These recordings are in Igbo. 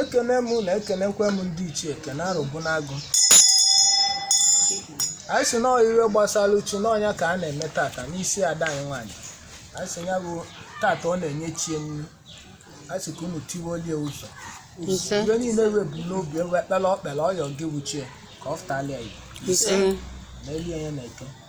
ekene m na ekenekwe m ndị ichie ekene arụbụ n'agụ anyị si na iwe gbasala uchu n'ọnya ka a na-eme tata n'isi ada anyị nwaanyị anyị si ya bụ tata ọ na-enye chie nri anyị si ka unu tiwolie ụzọ ise iwe niile wee bu n'obi ewe ekpere ọ kpere ọ yọ gị wụ chi e ka ọ fụtala ya ise na elie ya na-eke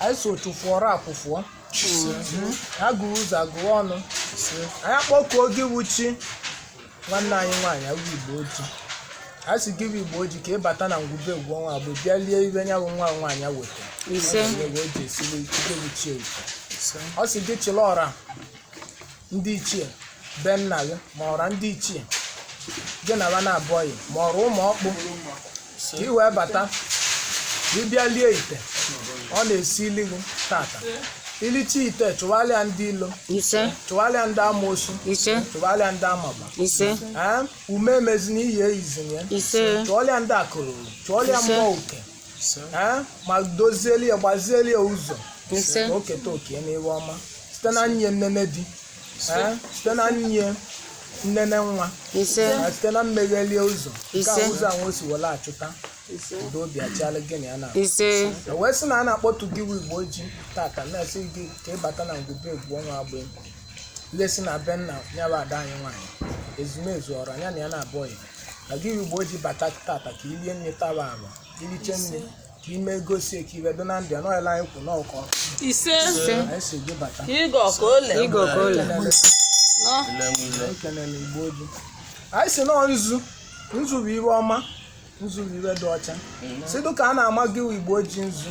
anyị so tụfụọrọ akwụfụọ agụrụ ụzọ agụrụ ọnụ anyị akpọkuo gị wụ chi nwanne anyị nwaanyị a wụ igbo oji a sị gị bụ igbo oji ka ị bata na ngwube egwu ọnwa abụ bịa lie iwe nya bụ nwa nwaanyị a weta ise Ọ sị gị chịla ọra ndị ichie be nna gị ma ọra ndị ichie gị na ba na-abụọghị ma ọra ụmụ ọkpụ ka ị wee bata ka ị bịa lie ite ọ na-esili gị tata i licha ite chụwalịa ndị ilo ise chụwalịa ndị amoosu ise chụwalịa ndị amaba ise ee ume emezina iyi eyizina ya ise chụọlịa ndị akụrụ chụọlịa Ise. mmụọ uke ise ee ma dozieli ya gbazieli ya ụzọ Ise. ka o keta oke n'iwe ọma site n'inye nnene di ee site n'inye nnene nwa ise na site na mmeghelie ụzọ nke Ise. a ụzọ ahụ o si were achụta udo obi achịala gị na ya na ise E wee sị na a na-akpọtụ gị wụ igbo oji tata na-asị gị ka ị bata na ngwube egwu ọnwa agba egwu lesi na be nna ya bụ ada anyị nwaanyị ezumezu ọra nya na ya na-abụọ ya a sị gị wụ igbo oji bata tata ka i lie nni taba alụ i liche nni ka i megosi ka iwe dị na ndụ ya n'ọyịla anyị kwụ n'ọkọ ise anyị sị gị bata ịgọ ka ole Igo ka ole. nọ anyị kelele igbo oji anyị sị nọọ nzu nzu bụ iwe ọma nzu bụ iwe dị ọcha sị dụka a na-ama gị igbo oji nzu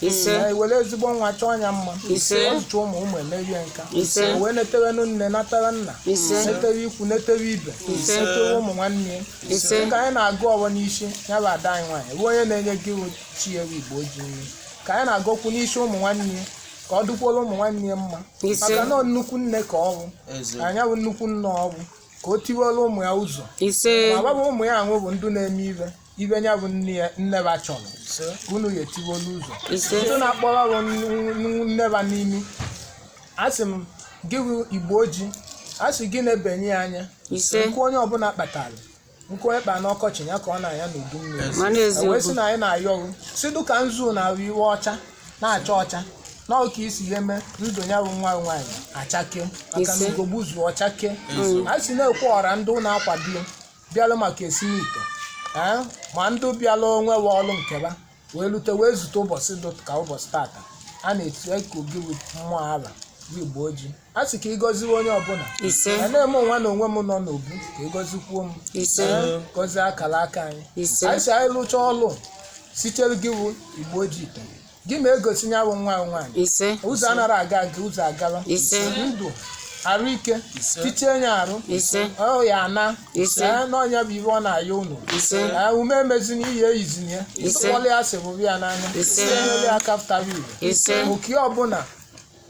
Ise. na ewere ezigbo nwa chọọ ya mma Ise. ọtụtụ ụmụ ụmụ emerie nka Ise. O wee netewenụ nne natara nna Ise. netewe ikwu netewe ibe Ise. netewe ụmụ nwanne ya Ise. dịka anyị na-agọ ọfọ n'isi ya bụ ada anyị nwaanyị bụ onye na-enye gị chi e wụ igbo oji nri ka anyị na-agọkwu n'isi ụmụ nwanne ya ka ọ dụkwuola ụmụ nwanne ya mma Ise. maka na ọ nnukwu nne ka ọ bụ Eze. nya bụ nnukwu nne ọ bụ ka o tiwela ụmụ ya ụzọ ise ma ọ bụ ụmụ ya ahụ bụ ndị na-eme iwe nya bụ nne ba chọrọ ka unu ya etiwolu ụzọ ise ndị na-akpọrọ ọrụ nne ba n'imi a sị gị bụ igbo oji a sị gị na-ebenye ya anya ise nkụ onye ọbụla kpatara nkụ onye kpa n'ọkọchị ya ka ọ na-anya n'udu mmiri ma na E wee sị eziokwu na anyị na-ayọ unu sị dụka nzu na-abụ iwe ọcha na-acha ọcha na ọ ka i si eme ndụ ya bụ nwa nwaanyị ọchake maka na Ise. ugo gbuzuo ọchake a si na-ekwe ọra ndị na-akwado ya bịalụ maka esimite ee ma ndị bịalụ onwe we ọlụ nkeba wee lute wee zute ụbọchị dị ka ụbọchị tata a na-etiku gị bụ mmụọ ala bụ igbo ojii a sị ka ịgọziwe onye ọbụla ise ya na-eme onwe na onwe m nọ n'obu ka ịgọzikwuo m ise Ee, gọzie akara aka anyị ise anyị sị anyị lụcha ọlụ sitere gị bụ igbo ojii ite gị ma egosi ya bụ nwa nwaanyị ise ụzọ anara aga aga ụzọ agala Ise. ndụ arụ ike tichie ya arụ ise ọ ya ana Ise. Ee, na ọ nya bụ ive ọ na-ayọ unu Ise. Ee, ume emezina iyi eyizina ya Ise. tụkpọlụ ya sịbụbụ ya n'anya Ise. tinyere ya aka pụtawa ive ise oke ọbụla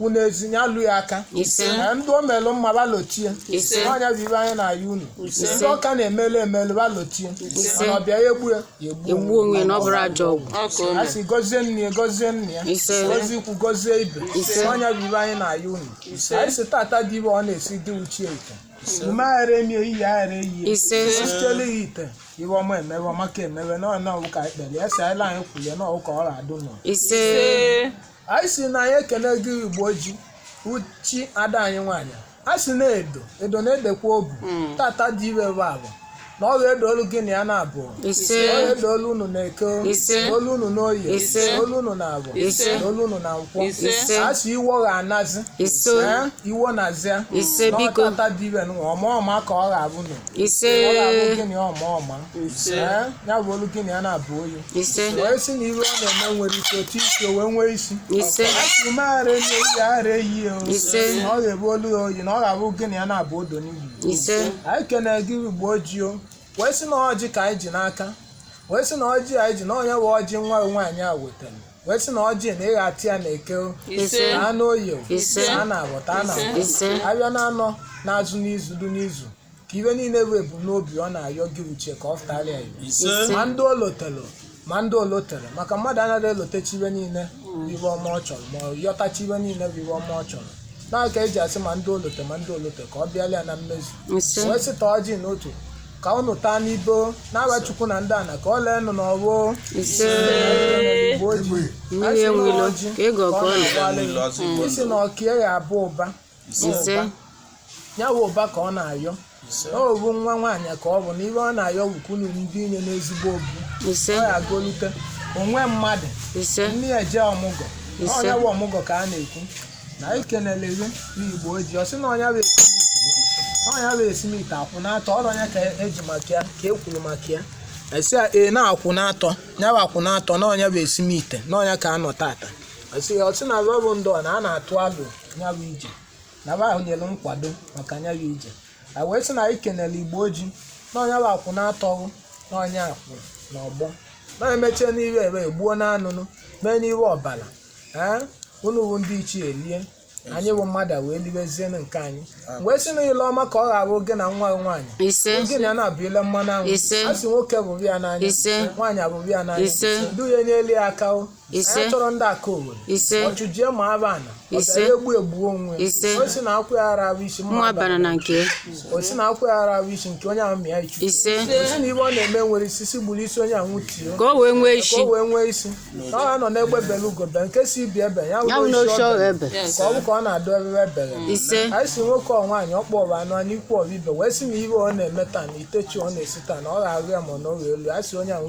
unu ezinye alụ ya aka Ise. Ee, ndị o melụ mma va lotie Ise. ọ nya bụ ive anyị na-ayọ unu Ise. ndị ọ ka na-emelu emelu va lotie Ise. mana ọbịa ya egbu ya ya egbu egbu onwe ya na ọ bụrụ ajọ ọgwụ Ọ ka o a mere. sị gọzie nne ya gọzie nna ya Ise. gọzie ikwu gọzie ibe Ise. ọ nya bụ ive anyị na-ayọ unu anyị sị tata dị ive ọ na-esi dị uche ite ume aghara emie iyi aghara eyi Ise. sitele ya ite ive ọma emewe ọma ka emewe na ọna ọwụ ka ekpere ya si ala anyị kwulie na ọwụ ka ọ ga-adụ nọ ise Ee. anyị sị na anyị ekene gị igbo ojii uchi ada anyị nwaanyị a sị na-edo edo na-edekwa obu tata dị ive bụ avọ na ọ ga-edolu gị na ya na avọ Ise. ọ ga-edolu unu na eke Ise. dolu unu na oye Ise. dolu unu na avọ Ise. dolu unu na nkwọ Ise. Ise. a sị iwo ga-anazi Ise. Eh, iwo nazịa Ise, na ọ biko. tata dị ive nụ ọma ọma ka ọ ga-abụ nụ ise ọ ga-abụ gị na ya ọma ọma Eh, ya bụọlụ gị na ya na-abụ oyi ise wee sị na ive ọ na-eme nwere ike otu isi o wee nwee isi ise a sị ume ara eme iyi ara eyi o Ise. na ọ ga-ebu olu ya oyi na ọ ga-abụ gị na ya na-abụ odo n'iyi ise anyị kene gị igbo ojii o wee sị na ọjị ka anyị ji n'aka wee sị na ọjị anyị ji na ọ nya bụ ọjị nwa gị nwaanyị a wetara wee sị na ọjị na ị gha-atị ya na eke o ise na anụ oye o Ise. na a na avọ taa na avọ ise abịa na anọ na-azụ n'izu lu n'izu ka ive niile bụ ebumnobi ọ na-ayọ gị uchi ka ọ fụtara ya ive. ise ma ndị o lotelu ma ndị o lotero maka mmadụ anaghị elotechi ive niile bụ ive ọma ọ chọrọ ma ọ yọtachi ive niile bụ ive ọma ọ chọrọ nya ka eji asị ma ndị o lotelu ma ndị o lotero ka ọ bịala ya na mmezu ise wee sị taa ọjị n'otu ka unu taa n'ibo na be chukwu na ndị ana ka ọ leenụ n'ọwụ ise Igbo ojii. mmiri enwilo ka ego ọkọ ọ na-agbalị. Mmiri ọzọ Igbo isi na ọka ya abụ ụba So, Ise. ụba. ya wụ ụba ka ọ na-ayọ Ise. ọ bụ nwa nwaanyị ka ọ bụ na ive ọ na-ayọ wukunu ndị inye n'ezigbo obi ise ọ ya agolite onwe mmadụ ise nne ya jee ọmụgọ Ise. ọ nya bụ ọmụgọ ka a na-ekwu na anyị kenele gị n'igbo ojii ọ sị na ọ nya bụ esimite ọ nya bụ esimite akwụ n'atọ ọrụ ọ nya ka eji maka ya ka e kwuru maka ya esi ya ee na akwụ n'atọ ya bụ akwụ n'atọ na ọ nya bụ esimite na ọ nya ka a nọ tata esi ya ọ sị na ọ bụ ndụ na a na-atụ alo nya bụ ije na ba ahụ nyere nkwado maka nya bụ ije a wee sị na anyị kenere Igbo ojii na onye bụ akwụ na-atọghụ na onye akwụ na ọgbọ na emechie n'iru ebe egbuo na anụnụ mee n'iru ọbara ee unu bụ ndị ichie elie anyị bụ mmadụ a wee libezienụ nke anyị wee sị na ile ọma ka ọ ga-abụ gị na nwa nwaanyị ise oge na ya na-abụ ile mmanụ anwụ Ise. a sị nwoke bụrụ ya n'anya Ise. nwaanyị abụrụ ya n'anya Ise. ndị ya-enyelu ya aka o ise anyị chọrọ ndị aka owere ise ọchụjie ma aba ana Ise. ọbịara egbu egbu onwe Ise. o si na akwụ ya ara ahụ isi nwa bara na nke o si na akwụ ya ara ahụ isi nke onye ahụ mịa ichu ise o si na ife ọ na-eme enwerọ isi si gburu isi onye ahụ tie ka o wee nwee ka isi o wee nwee isi ka ọ nọ n'egbe bele ugo bee nke si ibe ebe ya ya bụ wụrụ n'oche isi ọrụ ọrụ ebe ebe ka ọ bụ ka ọ na-adụ ebe ebere ise anyị si nwoke ọ nwaanyị ọ kpọrọ anụ anyị ikwu ọrụ ibe wee si na ife ọ na-eme taa na itechi ọ na-esi taa na ọ ga-arụ ya ma ọ na ọrụ elu a si onye ahụ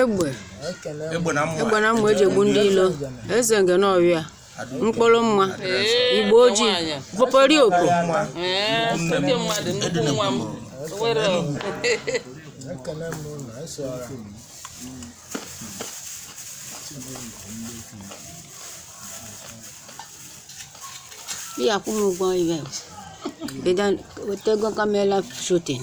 egbe egbe na mma egbe na mma e ji egbu ndị ilo eze Ngene ọhịa mkpụrụ mma Igbo ojii popori opo Ee, oke mmadụ nnukwu nwa m were ihe akwụ m ụgwọ event weta ego camera shooting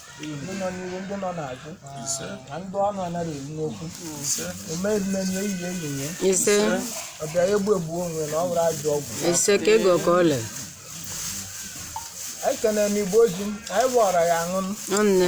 ndị nọ n'ihu ndị nọ n'azụ na ndị ọnụ anaghị eru n'okwu omeimenye ehihie ehihie ise ọbịa egbu egbu onwe na ọ bụrụ ajọ ọgwụ ise ka e gọ ka ọ lee anyị kenere Igbo ojii anyị bụ ọra ya-aṅụ nne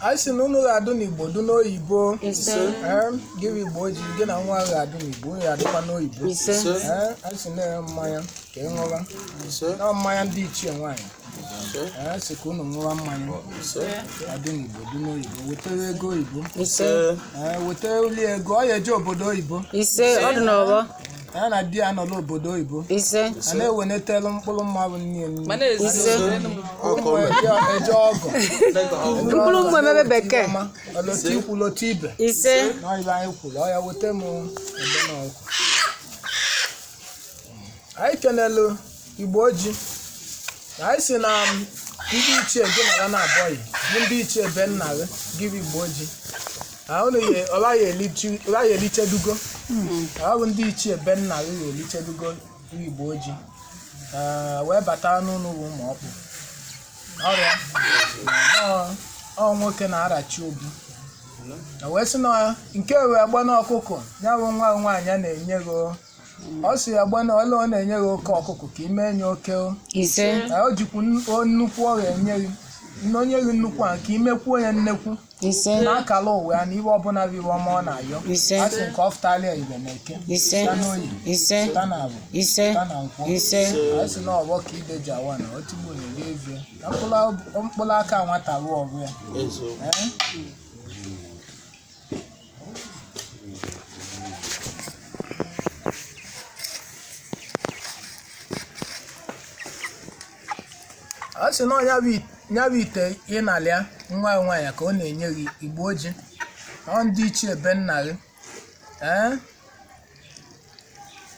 anyị si na unu ga-adụ n'igbo dụ n'oyibo Ee, gị bụ Igbo ojii gị na nwa ga-adụ n'igbo unu ga-adụkwa n'oyibo Ee, anyị si nara mmanya ka ị ṅụba na mmanya ndị ichie nwaanyị si ka unu ṅụwa mmanya adị n'igbo dị n'oyibo wetara ego oyibo ise ee weta uli ego ọ ya-eje obodo oyibo ise ọ dị n'ọgbọ ya na di ya nọ n'obodo oyibo ise a na-ewenetelu mkpụrụ mmadụ niile ise ụmụ eje eje ọgọ mkpụrụ ụmụ emebe bekee ọma ọ lọta ikwu lọta ibe ise na ife anyị kwuru ọ ya-eweta m ebe na ọkụ anyị kenelu igbo oji na anyị sị na ndị ichie gị na ya na-abụghị bụ ndị ichie be nna gị gị bụ igbo oji na unu ya ọba ya elichi- ọba ya elichedugo ọ bụ ndị ichie be nna gị ya elichedugo bụ igbo oji Ee, wee bata n'unu wa ụmụ ọkpụ ọrịa Ọ- ọ nwoke na-arachi obi wee sị na nke wee gba n'ọkụkọ ya bụ nwa nwaanyị a na-enye gị ọ sị ya gbana ọla ọ na-enye gị oke ọkụkọ ka i mee ya oke o ise na o jikwu nn- o nnekwu ọ ga-enye gị nne o nye gị nnekwu a ka i mekwuo ya nnekwu ise n'akala ụwa ya na ive ọbụla bụ ive ọma ọ na-ayọ Ise. a sị nke ọ fụtala ya ive na eke ise ta n'oye ise ta na avọ ise ta na nkwọ ise a sị na ọgbọ ka ide ji awa na otigbu na-eri ezie na mkpụrụ- mkpụrụ aka nwata ruo ọgụ ya Ee? ọ sị na ya bụ ya bụ ite ị na-alịa nwa ya nwaanyị ka ọ na-enye gị igbo oji ọ ndị ichie be nna gị ee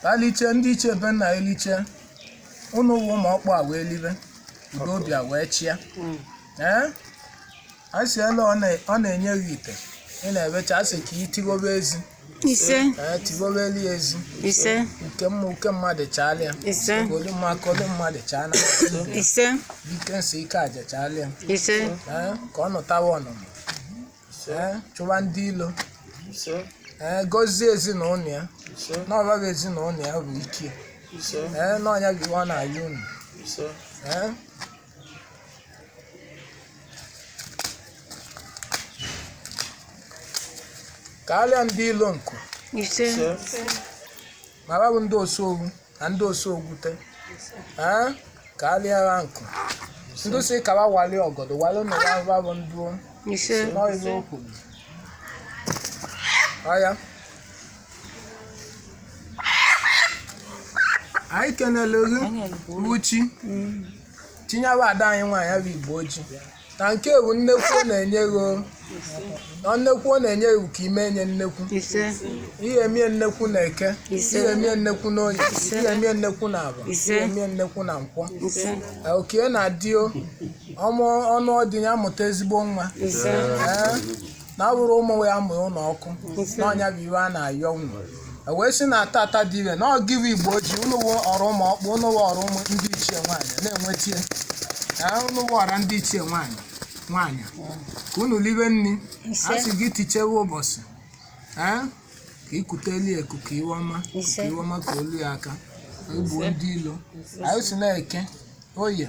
ga-eliche ndị ichie be nna gị liche unu wa ụmụ ọkpụ a wee libe udo obi a wee chịa ee a sị ele ọ na- ọ na-enye gị ite ị na-ebecha a sị ka ị tighobe ezi ise ee tighobelu ya ezi ise uke mma uke mmadụ chaala ya ise ka olu mma ka olu mmadụ chaa na ise ike nsị ike aja chaala ya ise ee ka ọ nụtawa ọnụnụ ee chụwa ndị ilo ee gọzie ezinụlọ ya n'ọbaghị ezinụlọ ya bụ ike ee n'ọnya gị ọ na-ayọ unu ee karịa ndị ilo nku ise ma ha bụ ndị osu ogwu na ndị osu ogwute ee karịa ha nku ndị sị ka ha wali ọgọdọ wali na ya ha bụ ndụ ise n'ọyịba okwu ọya anyị kenele gị uchi tinyewa ada anyị nwaanyị bụ igbo oji na nke bụ nnekwu ọ na-enye gị o. na nnekwu ọ na-enye gị ka i mee ya nnekwu ise ị ya-emie nnekwu na eke Ise. ị ya-emie nnekwu na oye Ise. ị ya-emie nnekwu na avọ Ise. ị ya-emie nnekwu na nkwọ ise Ee, oke na-adị o ọmụ ọ nụọ di ya mụta ezigbo nwa ise Ee, na ọ bụrụ ụmụ ya mgbe ụlọ ọkụ na onye bu iwe a na-ayọ unu E wee sị na tata dị ire na ọ gị bụ igbo ji unu wụ ọra ụmụ ọkpụ unu wụ ọra ụmụ ndị ichie nwaanyị na-enwetie Ee, unu wụ ọra ndị ichie nwaanyị nwaanyị ka unu libe nri a sị gị tichewe ụbọchị ee ka ikuteli eku ka iwe ọma ka iwe ọma ka olu ya aka egbuo ndị ilo anyị si na Eke Oye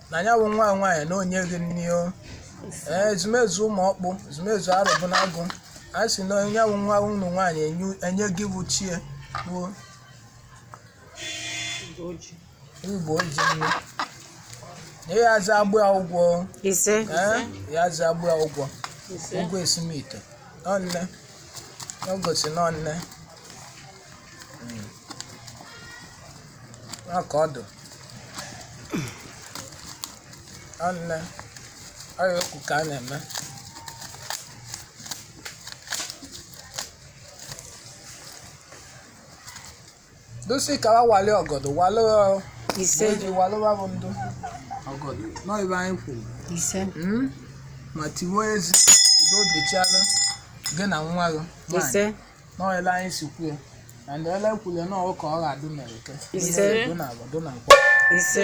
na ya bụ nwa nwaanyị na-enye gị nri o ee ezumezu ụmụ ọkpụ ezumezu arụbụ na agụ a sị na onye bụ nwa unu nwaanyị enyu- enye gị bụ chie bụ igbo oji nri na ya aza agbụ ya ụgwọ o. ise ee ya aza agbụ ya ụgwọ ụgwọ esimite nọnne ọ gosi nọnne aka ọdụ anne ọrịa okwu ka a na-eme dosi ka wa wale ọgọdọ wale ọ- ise eji wale wa bụ ndụ ọgọdọ nọ ibe anyị kwuru ise Mm? ma tiwe ezi udo dịchala gị na nwa gị nwaanyị. ise n'ọyịla anyị si kwuo na ndị ọla kwule na ọ wụ ka ọ ga-adụ na eke Ise. dụ na afọ dụ na nkwọ ise